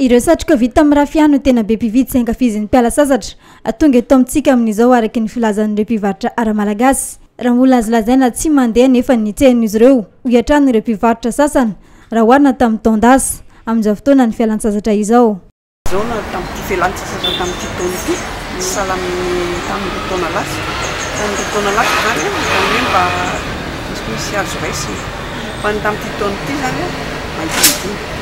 Ireo satroka vita amin'ny rafia no tena be mpividy sy ankafizin'ny mpiala sasatra tonga eto amintsika amin'izao araka ny filazan'ireo mpivarotra ara-malagasy. Raha mbola azo lazaina tsy mandeha anefa ny tsehan'izy ireo, hoy hatrany ireo mpivarotra sasany, raha oharina tamin'ny taon-dasa, amin'izao fotoanan'ny fialan-tsasatra izao. Izao na tamin'ity fialan-tsasatra tamin'ity taona ity, tsy sahala amin'ny tamin'ireo taona lasa. Tamin'ireo taona lasa izany, izany hoe mba misy azo raisina. Fa ny tamin'ity taona ity izany, mahita ny dimy.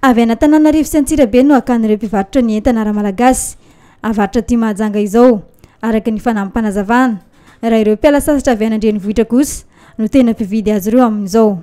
Avy any Antananarivo sy Antsirabe no hakan'ireo mpivarotra ny entana ara-malagasy avarotra aty Mahajanga izao, araka ny fanamim-panazavana, raha ireo mpiala sasatra avy any an-drenivohitra kosa no tena mpividy azy ireo amin'izao.